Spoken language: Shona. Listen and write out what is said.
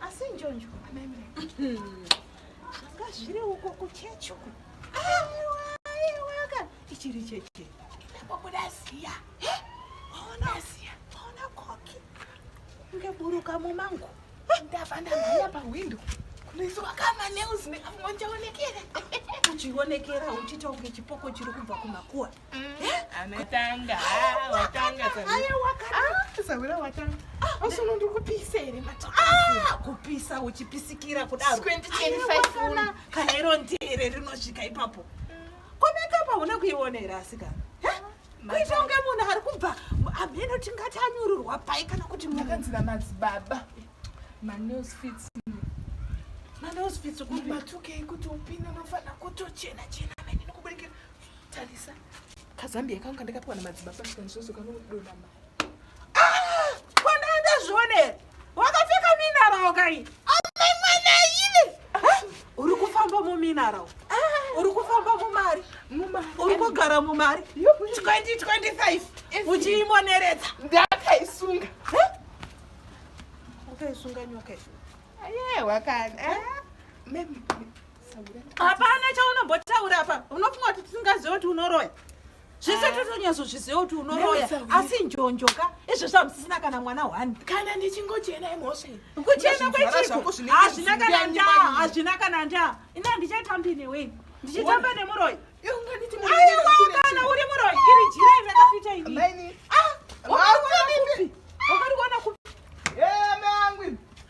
asi njonjo ameme zvanga zviri uko kuchechi uko aiwa aiwa ka ichiri chechi ndapobuda ziya waona ziya waona koki ngeburuka mumangu ndava ndamhanya pahwindo kunoiswa kama news nekamonjaonekera uchionekera uchitaunge chipoko chiri kubva kumakuwa anotanga ah, watanga sawira ah, watanga osono ndiri kupisa here ah, kupisa uchipisikira kudaroana kana iro ndere rinosvika ipapo komekapa hauna kuiona here asika kuita kunge munhu ari kubva amheno tingati anyururwa pai kana kuti makanzira madzibaba manosfits manosfits kubatukei kuti upinde unofanira kutochena chena amene nikuburikira Tarisa kazambia kangu kandakapiwa namadzibaba kanizvozvo kanodonha mari ah! kwandaendazvionera wakapfeka minarawo kai amai mwana ive uri kufamba muminarawo ah! uri kufamba mumari uri kugara mumari 2025 uchiimoneredza ndakaisunga wakaisunga nyoka ayewa kana eh? hapana chaunombotaura apa unofunga kuti tisingaziva kuti unoroya zvese ah. totonyazozviziva kuti unoroya asi njonjo ka izvo zvamusisina kana mwana one kana ndichingochena imhosva kuchena kwechiko hazvina kana ndaa hazvina kana ndaa ina ndichatambi newe ndichitamba nemuroyi aiwa kana uri muroyi iri jira iri rakafita ini ah, wakariona kupi